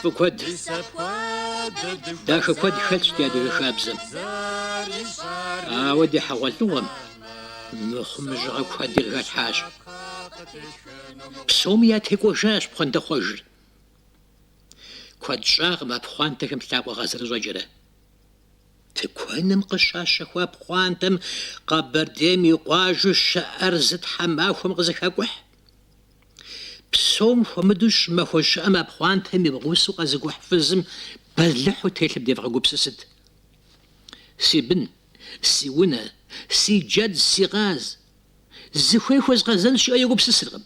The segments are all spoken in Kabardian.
Фӏы куэд, дахэ куэд хэтщ ди адыгэ хабзэм. Ауэ ди хьэгъуэлӏыгъуэм мыхъумыщӏагъэ куэди къыхэлъхьащ. Псоми ятекӏуэжащ пхъуантэхъуэжыр. Куэд щӏакъым а пхъуантэхэм лъакъуэ къазэрыщӏэкӏрэ. Тыкуэным къыщащэхуа пхъуантэм Къэбэрдейм и къуажэу щыӏэр зы тхьэмахуэм къызэхекӏухь. Псом хуэмыдэу щӏымахуэ щӏыӏэм а пхъуантэм и гъусэу къэзыкӏухь фызым бэлыхьу телъым девгъэгупсысыт. Си бын, си унэ, си джэд, си къаз. Зыхуей хуэзгъэзэн жиӏэу егупсысыркъым.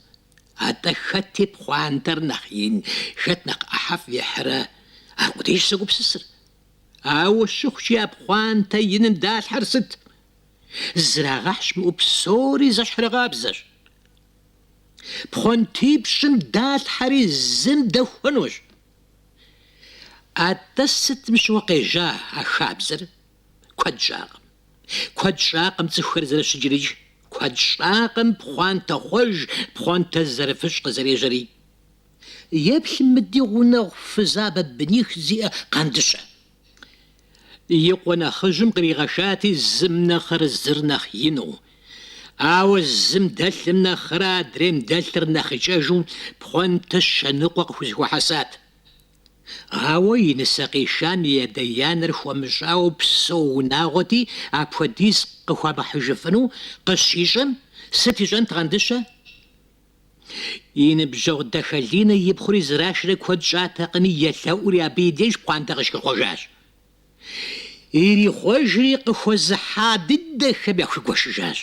Атӏэ хэт и пхъуантэр нэхъ ин, хэт нэхъ ӏыхьэфӏ ихьрэ, аркъудейщ зэгупсысыр. Ауэ щыхъукӏи а пхъуантэ иным далъхьэр сыт? Зрагъэхь щымыӏэу псори зэщхьыркъабзэщ. Пхъуантипщӏым далъхьэри зым дэхуэнущ. Атӏэ сытым щыгъуэ къежьа а хабзэр? Куэд щӏакъым. Куэд щӏакъым цӏыхухэр зэрыщыкӏри, икӏи куэд щӏакъым пхъуантэ хъуэж, пхъуантэ зэрыфыщӏ къызэрежьэри. Еплъ мы ди гъунэгъу фызабэ быних зиӏэ Къандыщэ. И къуэ нэхъыжьым къригъэшати, зым нэхъыр зыр нэхъ ину. Ауэ зым дэлъым нэхърэ адрейм дэлъыр нэхъ икӏэжу пхъуантэ щэныкъуэ къыхузэхуэхьэсат. Ауэ и нысэ къишам и адэ-анэр хуэмыщӏауэ псэу унагъуэти, апхуэдиз къыхуамыхьыжыфыну къыщищӏэм, сыт ищӏэнт Къандыщэ? И ныбжьэгъу Дахэлинэ и пхъури зэрашэрэ куэд щӏатэкъыми, елъэӏури абы и деж пхъуантэ къыщихъуэжащ. Ирихъуэжри къыхуэзыхьа дыдэхэм яхуигуэшыжащ.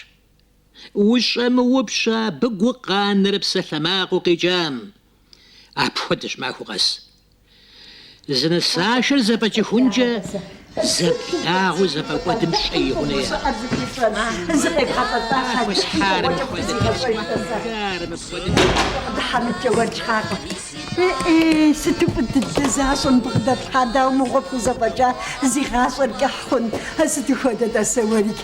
Ущӏэмыупщӏэ абы гукъанэрэ псалъэмакъыу къикӏам. Апхуэдэщ махуэ къэс Зы нысашэр зэфӏэкӏыхункӏэ зэблагъэу зэфӏэкӏуэдым щӏэи гъунэи яӏэщ. Хуэсхьарым хуэдэ тхьэщӏыгъуэхэри мыпхуэдэу яӏэщ. Дыхьэмыткӏэ уэркӏакъым. Э-э, сыту фӏы дыдэ защӏэ бгъэдэплъхьар, дауэ мыгъуэ пхузэфӏэкӏа зи гъащӏэр кӏыхь хъун, а сыту хуэдэ-тӏэ сэ уэрикӏ?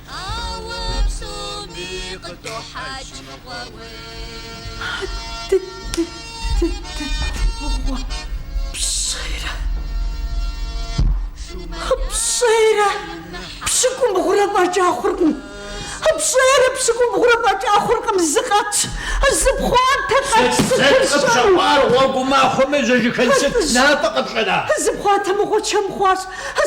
Ауэ псоми къыдохьэкӏ мыгъуэ уей. Пщӏейрэ, пщӏейрэ пщыкӏубгъурэ фӏэкӏа хъуркъым. Пщӏейрэ пщыкӏубгъурэ фӏэкӏа хъуркъым. Зы къэтщ, зы пхъуантэ къэтщ сытыр щӏэну. Сыт къыпщэкӏуар гъуэгу махуэм ежьэжыхын сыт мафӏэ къыпщӏэна? Зы пхъуантэ мыгъуэ чэм хъуащ,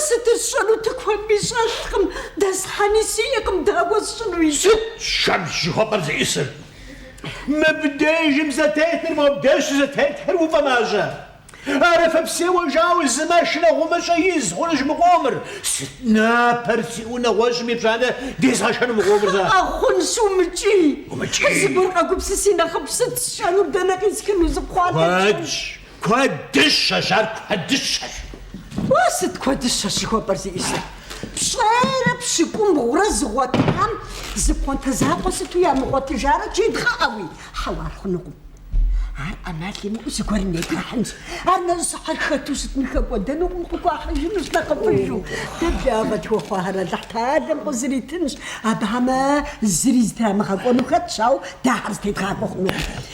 сытыр сщӏэну тыкуэнми щӏэлъкъым. Дэсхьэни сиӏэкъым дауэ сщӏыну икӏи. Сыт шэм жыхуэпӏэр зиӏысыр? Мыбдежым зэтетыр мобдеж щызэтетхэр уфӏэмащӏэ. Арафэпсеуэ жауэ зы машинэ гъумыщӏэ из хъунущ мы къомыр. Сыт напэр сиӏэу нэгъуэщӏым и пщӏантӏэ дезгъэшэну мы къомыр зэ? Кхъыӏэ хъунщ умыкӏий. Умыкӏий. Зыгуэр къэгупсыси нэхъыфӏ сыт сщӏэнур, дэнэ къисхыну? Зы пхъуантэр куэдщ. Куэдыщэщ, ар куэдыщэщ. Уэ сыт куэдыщэщ жыхуэпӏэр зиӏисыр? Пщӏырэ пщыкӏубгъурэ зыгъуэтам зы пхъуантэ закъуэ сыту ямыгъуэтыжарэ жедгъэӏэуи? Хьэуэ, ар хъунукъым. Ар ӏэмал имыӏэу зыгуэрым етрахьынщ. Ар нэрыщӏыхьыр хэту щытми хэкӏуэдэнукъым, къыхуахьыжынущ нэхъыфӏыжу. Дэ благъэ тхуэхъуахэр Алыхь Теалэм къызэритынщ, абыхэм зыри зытрамыгъэкӏуэну хэтщ, ауэ дэ ахэр зытедгъакӏуэ хъунукъым.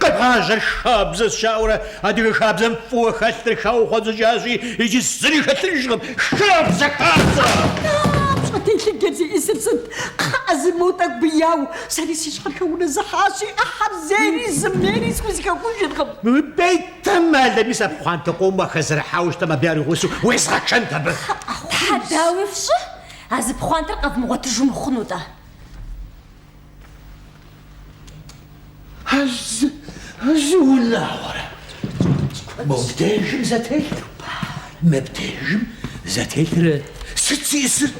Къэбгъажьэр хабзэщ жаӏэурэ, адыгэ хабзэм фӏыуэ хэлъыр хаухъуэдзыкӏащи, иджы зыри хэлъыжкъым. Хабзэ, хабзэщӏэ телъыджэр зиӏисыр сыт? Кхъыӏэ, зэ мо тӏэкӏу бэяу, сэри си щхьэр хэунэзыхьащи, ӏыхьэр зейри зымейри схузэхэхужыркъым. Бетэмал, мис а пхъуантэ къомым уахэзэрыхьауэ щытамэ, абы яригъусэу уезгъэчэнт абы. Тхьэ, дауи фщӏы, а зы пхъуантэр къэвмыгъуэтыжу мыхъуну-тӏэ? Зы унагъуэрэ мыбдежым зэтелъыр, мыбдежым зэтелъыр сыт зиӏысыр?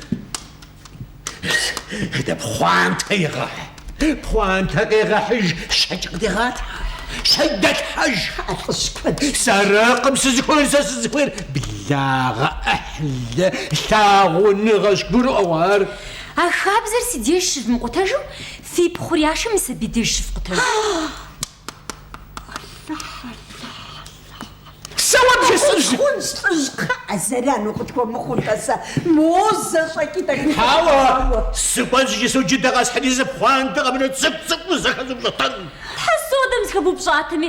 Дэ пхъуантэ егъэхь, пхъуантэ къегъэхьыж, щэкӏ къыдегъалъхьэ, щэкӏ дэлъхьэж. Лӏыжь куэд. Сэракъым сызыхуейр, сэ сызыхуейр благъэ, ӏыхьлы, лъагъуныгъэщ, гурыӏуэгъуэ ар. А хабзэр си деж щывмыкъутэжу, фи пхъур яшэм мис абы и деж щыфкъутэжу. Сэ уэ бжесӏэжи. Хъунщ, лӏыжь, кхъыӏэ, зэрану къытхуэмыхъу-тӏэ сэ. Мо зэ щӏэкӏи тӏэкӏу. Хьэуэ, сыкӏуэнщ икӏи зы джыдэ къэсхьри зы пхъуантэ къэмынэу цӏыкӏу-цӏыкӏуу зэхэзупщӏэтэн. Тхьэ, содэм зэхэбупщӏатэми,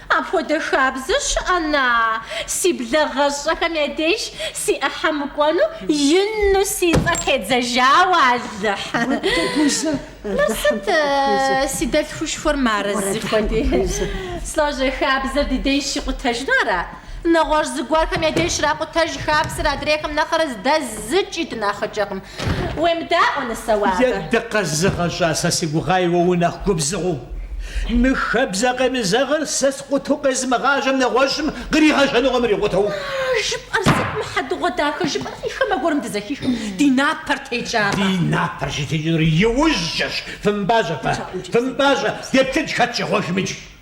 Апхуэдэ хабзэ щыӏэ-на? Си блэгъэщӏэхэм я деж си ӏыхьэ мыкӏуэну ину си цӏэ тедзэжауэ, Алыхь! Уэддэгузэ, Алыхьым фыкъыпхуизэ. Сыт си дэлъхушхуэр мары зыхуэди? Слажьэ, хабзэр ди деж щикъутэжыну ара? Нэгъуэщӏ зыгуэрхэм я деж щракъутэж хабзэр адрейхэм нэхърэ дэ зыкӏи дынэхъыкӏэкъым. Уемыдаӏуэ, нысэ, уэ абы. Е, дыкъэзыгъэщӏа, сэ си гугъаи уэ унэхъ губзыгъэу. Мы хэбзэ къемызэгъыр сэ скъуту къезымыгъажьэм нэгъуэщӏым къригъэжьэнукъым ирикъутэу. А жыпӏэр сыт, мы хьэдэгъуэдахэ жыпӏэр зы хамэ гуэрым дызэхихым, ди напэр текӏакъэ? Ди напэр щытекӏынур иужькӏэщ. Фымыпӏащӏэ фэ, фымыпӏащӏэ, деплъынщ хэт щӏегъуэжым иджы.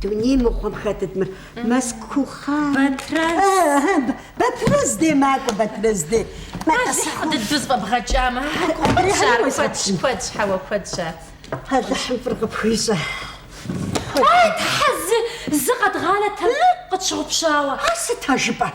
Дуней мыгъуэм хэтыт мыр Мэзкухъан. Батрэз. Батрэз дей макӏуэ, Батрэз дей. Алыхь дыдэу зэфӏэбгъэкӏамэ. Куэдщ, куэдщ, хьэуэ, куэдщ. Алыхьым фӏыр къыпхуищӏэ. Ай, Тхьэ, зы, зы къэдгъанэтэм къытщыгъупщауэ. Ар сыт а жыпӏэр?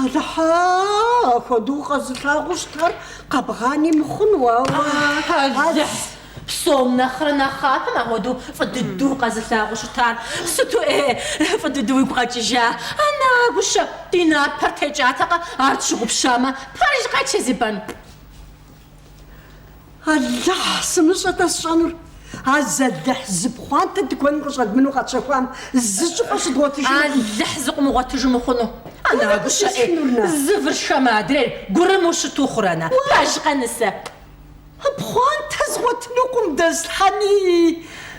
Алыхьыа, апхуэдэу укъэзылъагъуу щытар къэбгъани мыхъуну, ауэ. Алыхь, псом нэхърэ нэхъапэм апхуэдэу фӏы дыдэу укъэзылъагъуу щытар сыту, э, фӏы дыдэу уигу къэкӏыжа. Ана гущэ, ди напэр текӏатэкъэ, ар тщыгъупщамэ, пэжкъэ Чэзибан? Алыхь, сымыщӏэ-тӏэ сщӏэнур? Азалыхь зы пхъуантэ тыкуэным къыщӏэдмынэу къэтщэхуам зы щӏыпӏэ щыдгъуэтыжыну? Алыхь зыкъымыгъуэтыжу мыхъуну? Ана гущэӏей, зы выр шхэмэ адрейр гурыму щыту хъурэ, на? Пэжкъэ нысэ? Пхъуантэ згъуэтынукъым, дэслъхьэни.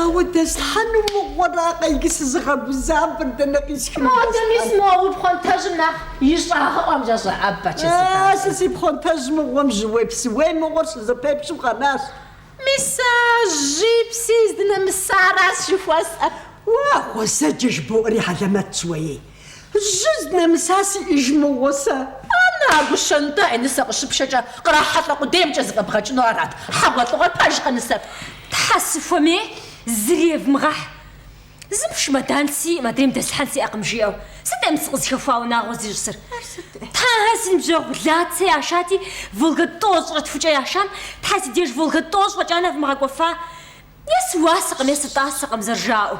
Ауэ дэслъхьэну мыгъуэракъэ иджы сызыгъэгузавэр, дэнэ къисхыну дэслъхьэн? Адэ мис мо уи пхъуантэжьым нэхъ и щӏагъыӏуэм жэ щӏэӏэбэ, Чэзибан. Сэ си пхъуантэжь мыгъуэм жьыуей псыуей мыгъуэр щызэпепщэу къэнащ. Мис сэ жьи пси здынэмысаращ жыхуэсӏэр. Уэ гъуэзэджэ жыбоӏэри хьэлэмэтщ уей? Жьы здынэмыса сиӏэж мыгъуэ сэ. Ана а гущэ, нтӏэ, е нысэ къыщыпшэкӏэ кърахьэлӏэ къудеймкӏэ зэфӏэбгъэкӏыну арат хьэгъуэлӏыгъуэр, пэжкъэ нысэр? Тхьэ, сыхуэмей, зыри евмыгъэхь. Зым чымэдан сиӏэм, адрейм дэслъхьэн сиӏэкъым, жиӏэу. Сыт е мы сыкъызыхэхуа унагъуэ зищӏысыр? Ар сыт? Тхьэ, си ныбжьэгъу Лацэ яшати, Волга-тӏощӏрэ тхукӏэ яшам, Тхьэ, си деж Волга-тӏощӏ фӏэкӏа нэвмыгъэкӏуэфа? Е сыуасэкъым, е сытӏасэкъым зэрыжаӏэу.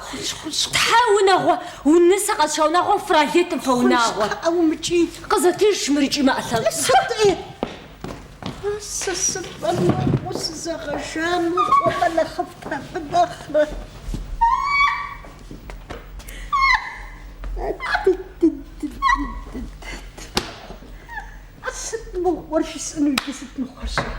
Тхьэ, унагъуэу нысэ къэзыша унагъуэм фралейтэм фэ унагъуэ. Хъунщ, кхъыӏэ, умыкӏий. Къызэтыж щымырыкӏи мы ӏэлъэ. Сытӏи? А сэ сыфӏэмыхьу сызэгъэжамэ, фӏыгъэ нэхъыфӏ пэфӏынэхърэ. Сыт мыгъуэр жысӏэну иджы сыт мыгъуэ сщӏэр?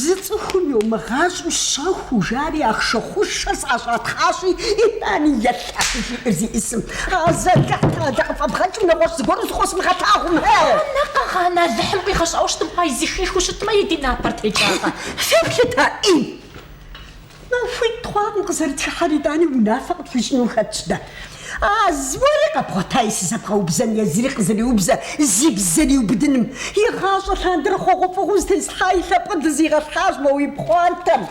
Зы цӏыхум йомыгъащӏэу щэхуу жари ахъшэ хъушэ сӏэщӏатхъащи, итӏани елъэӏу жиӏэр зиӏысым. Азалыхь къалэ къыфӏэбгъэкӏым нэгъуэщӏ зыгуэру зыкъосмыгъэтакъым. На, къэгъанэ Алыхьым къигъэщӏауэ щытмэ, ай зыхихыу щытмэ, и ди напэр текӏакъэ. Феплъыт, а ӏей! Махуитӏ хъуакъым къызэрытхыхьэрэ, итӏани унафэ къытхуищӏыну хэтщ дэ. А зы уэри къэбгъуэтаи сызэбгъэубзэн езыри къызэриубзэ зи бзэр иубыдыным. Игъащӏэ лъандэрэ хъугъуэфӏыгъуэу зэтесхьа и лъэпкъыр дызигъэлъхьащ мо уи пхъуантэм.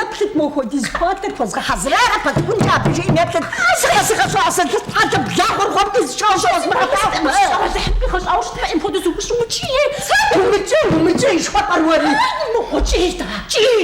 Еплъыт мо хуэдиз пхъуантэр хуэзгъэхьэзыра, къыпэткӏункӏэ абы, жи еплъыт. Сыкъэзыгъэщӏа сэ ды хьэлъэ благъуэр гъуэм дызыщӏащ, къэзмыгъэфӏакъым. Сыкъэмызыхьын къигъэщӏауэ щытмэ, ӏей мыхуэдэу зыукӏыу укӏий. Умыкӏий, умыкӏий жыхуэпӏэр уэри? Умыкӏуэ, кӏий, дэ, кӏий.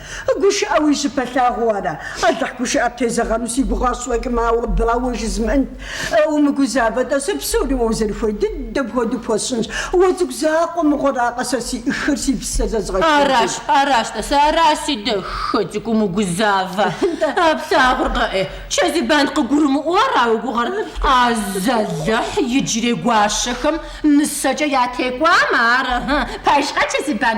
Гушыӏэ уи щыпэлъагъу ара? Алыхь гушыӏэ птезэгъэну си гугъа сщӏэкӏым, ауэ бауэ жызмыӏэнт. Умыгузавэ-тӏэ, сэ псори уэ узэрыхуей дыдэм хуэдэу пхуэсщӏынщ. Уэ цӏыкӏу закъуэ мыгъуэракъэ сэ си ӏыхыр, си псэр зэзгъэшхынкӏэ? Аращ, аращ, тӏасэ, аращ си дахэ цӏыкӏу умыгузавэ. А плъагъуркъэ ӏэ, Чэзибан къыгурымыӏуэу ара уи гугъэр? Азалыхь иджырей гуащэхэм нысэкӏэ ятекӏуамэ ар. Пэжкъэ, Чэзибан?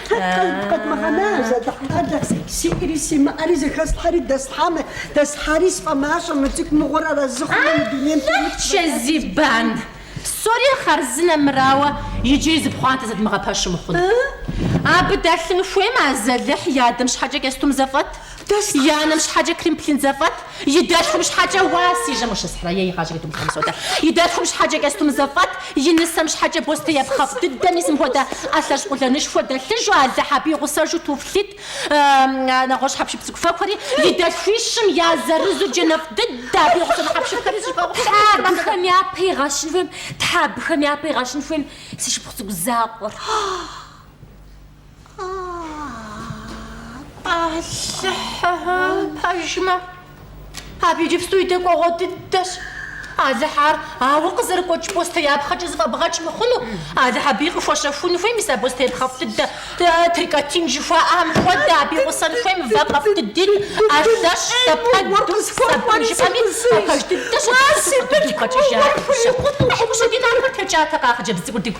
Къэдмыгъэна, азалыхь дэ, сиӏэри симыӏэри зэхэслъхьэри дэслъхьамэ, дэслъхьари сфӏэмащӏэ, мы цӏыкӏу мыгъуэр арэзы хъуну мы дунейм темыт, Алыхь, Чэзибан! Псори хъарзынэ мырауэ, иджыри зы пхъуантэ зэдмыгъэпэщу мыхъун. Абы дэлъын хуеймэ, азалыхь и адэм щхьэкӏэ кӏэстум зэфӏэт. И анэм щхьэкӏэ кримплин зэфӏэт, и дэлъхум щхьэкӏэ уа, си жьэм ущысхьрэ, е игъащӏэкӏэ думыхуэну содэ, и дэлъхум щхьэкӏэ кӏэстум зэфӏэт, и нысэм щхьэкӏэ бостеяпхъэфӏ дыдэ, мис мыпхуэдэ ӏэлъэщӏ къулэнышхуэ дэлъыжу, Алыхь абы игъусэжу туфлит, нэгъуэщӏ хьэпшып цӏыкӏуфэкӏухэри, и дэлъхуищым я зырызу джэнэфӏ дыдэ, абы игъусэну хьэпшыпхэри зыщӏыфӏэфӏ. Тхьэ абыхэм япэ игъэщын хуейм, Тхьэ абыхэм япэ игъэщын хуейм, си шыпхъу цӏыкӏу закъуэр. Алыхь пэжмэ, абы иджыпсту и дэкӏуэгъуэ дыдэщ. Алыхь ар, ауэ къызэрыгуэкӏ бостеяпхъэкӏэ зыфӏэбгъэкӏ мыхъуну. Алыхь абыи къыхуэщэхун хуей мис а бостеяпхъэфӏ дыдэ, трикотин жыхуаӏэм хуэдэ, абы игъусэн хуейм вакъэфӏ дыди, ӏэлъэщӏ, лъэпэд, сабын жыпӏэми а пэж дыдэ щыдыхьу си къуртыр дигу къэкӏыжа. Щыхъу, хьэкъущэ ди напэр текӏатэкъэ а хъыджэбз цӏыкӏур дигу?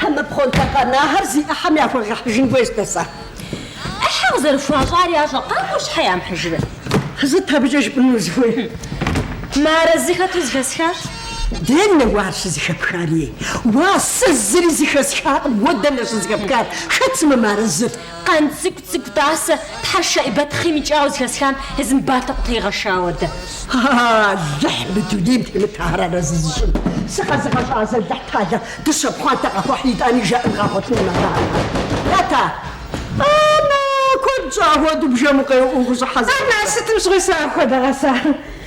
Хьэмэ пхъуантэ къэнахэр зи ӏыхьэм яхуэгъэхьыжын хуейщ дэ сэ. ӏыхьэ къызэрыхуащӏар ящӏэ, къакӏуэу щхьэ ямыхьыжрэ? Сыт абыкӏэ жыпӏэну узыхуейр? Мыарэзы хэту зыхэсхащ. Дэнэ уэ ар щызыхэпхар, ей? Уа, сэ зыри зыхэсхакъым, уэ дэнэ щызыхэпхар? Хэт сымэ мыарэзыр? Къанцӏыкӏу Цӏыкӏу тӏасэ тхьэ Шэӏибэт хъийм икӏауэ зыхэсхам езым батэкъутэ игъэшауэ дэ. Алыхь мы дунейм темыт ахэр арэзы зыщӏын. Сыкъэзыгъэщӏа азалыхь тхьэлэ дыщэ пхъуантэ къахуэхь итӏани жаӏэн къагъуэтын нэхъыхьэхэр. Ата! Анэ! Куэд щӏа хуэдэу бжэм укъеуӏуэу ущӏыхьэ зэрыхъурэ? Анэ! Сытым щыгъуи сэ апхуэдэ гъэса.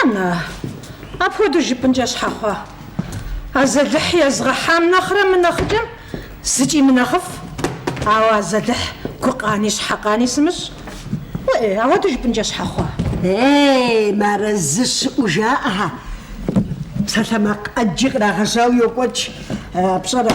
Анэ, апхуэдэу жыпӏынкӏэ щхьэ хъуа? Азэлыхь езгъэхьам нэхърэ мынэхъыкӏэм зыкӏи мынэхъыфӏ. Ауэ Азэлыхь гукъани щхьэкъани сымыщӏ. Уэӏей, апхуэдэу жыпӏынкӏэ щхьэ хъуа? Ей, мыарэзы щыӏэу жаӏэ! Псалъэмакъ ӏэджи кърагъэжьауэ йокӏуэкӏ, пщӏэрэ?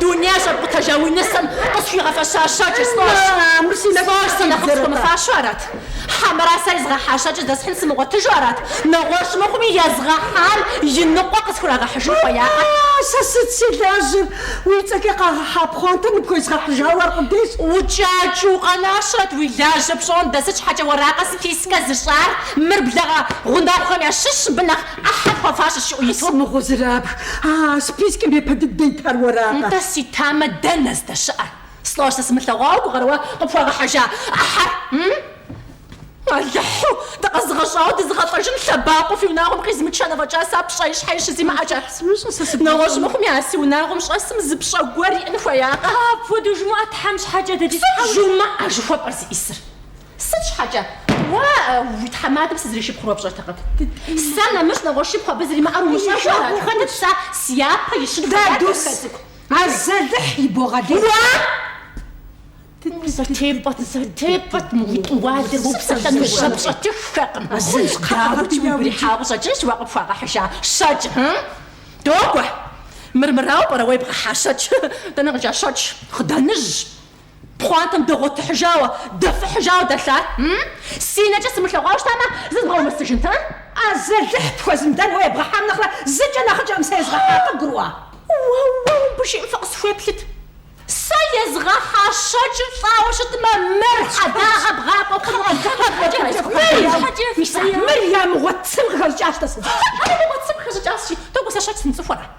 Дуней щӏэфӏ къутэжа уи нысэм къысхуигъэфэща щэкӏыр слӏожь. Слӏожь сэ нэхъыфӏ схуэмыфащэу арат. Хьэмэрэ сэ езгъэхьа щэкӏыр здэсхьын сымыгъуэтыжу арат? Нэгъуэщӏ мыхъуми, езгъэхьам и ныкъуэ къысхурагъэхьыжын хуеякъэ? Сэ сыт си лажьэр? Уи цӏэкӏэ къагъэхьа пхъуантэр ныпхуезгъэхьыжауэ аркъудейщ. Укӏакӏыу укъэнащэрэт, уи лажьэ пщӏондэ, сыт щхьэкӏэ уэракъэ спискэ зыщӏар? Мыр благъэ гъунэгъухэм ящыщщ, мыбы нэхъ Ахьэр хуэфащэщ жиӏэу ису. Къысомыгъузырабг, а спискым япэ дыдэ итар уэракъэ? Нтӏэ, си тамэ, дэнэ здэщыӏэр? Слӏожь сэ сымылъэгъуауэ гугъэрэ уэ къыпхуагъэхьыжа ахьэр? Алыхьу, дыкъэзыгъэщӏауэ дызыгъэлӏэжын лъэбакъуэ фи унагъуэм къизмычэн, афӏэкӏа сэ пщӏэи щхьэи щызимыӏэкӏэ. Нэгъуэщӏ мыхъуми а си унагъуэм щӏэсым зы пщӏэ гуэр иӏэн хуеякъэ? Апхуэдэу жумыӏэ, Тхьэм щхьэкӏэ, дэкӏи Сыт тхьэуэ. жумыӏэ жыхуэпӏэр зыӏисыр? Сыт щхьэкӏэ? Уэ уи тхьэмадэм сызришыпхъур пщӏэртэкъым. Сэ нэмыщӏ нэгъуэщӏ шыпхъу абы зримыӏэр умыщӏэжу ара? Хэтыт сэ си япэ ищыну зыхэтыр, Дадус, Хэцӏыкӏу? Азэлыхь ибогъэлей. Уэ! Зэтепӏэт, зэтепӏэт, мы уи тӏуалэр уэ упсэлъэну жьэ пщӏэтыххэкъым. Къэбгъэти, уигу ирихьауэ щӏэкӏынщ уэ къыпхуагъэхьыжа щэкӏ. Догуэ! Мыр мырауэ пӏэрэ уэ ебгъэхьа щэкӏ? Дэнэ къикӏа щэкӏ? Хъыданыжь! Пхъуантэм дэгъуэтыхьыжауэ, дэфыхьыжауэ дэлъат? Си нэкӏэ сымылъэгъуауэ щытамэ, зызгъэумысыжынт, а? Азэлыхь пхуэзымыдэн уэ ебгъэхьам нэхърэ зыкӏэ нэхъыкӏэкъым сэ езгъэхьар, къыбгурыӏуа? Уэ-уэ, абы жиӏэм фыкъысхуеплъыт. Сэ езгъэхьа щэкӏыр щӏауэ щытмэ, мыр хьэдагъэ бгъакӏуэ хъунукъым, абыкӏэ дэс. Мыр ямыгъуэ цым къыхэщӏыкӏащ-тӏэ сэ. Ямыгъуэ цым къыхэщӏыкӏащ-тӏэ сэ. Тӏэкӏу сэ щэкӏ сымыцӏыхуэрэ?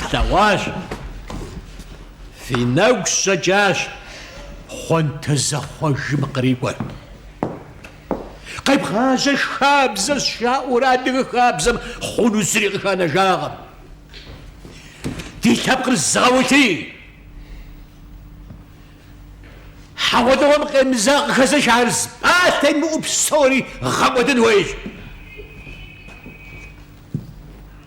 Флъэгъуащ. Фи нэгу щӏэкӏащ пхъуантэ зэхъуэжым кърикӏуэр. Къебгъажьэр хабзэщ жаӏэурэ адыгэ хабзэм хъуну зыри къыханэжакъым. Ди лъэпкъыр зыгъэулъий, хьэгъуэлӏыгъуэм къемызэгъ къыхэзыш ар зы пӏалъэ имыӏэу псори гъэкӏуэдын хуейщ.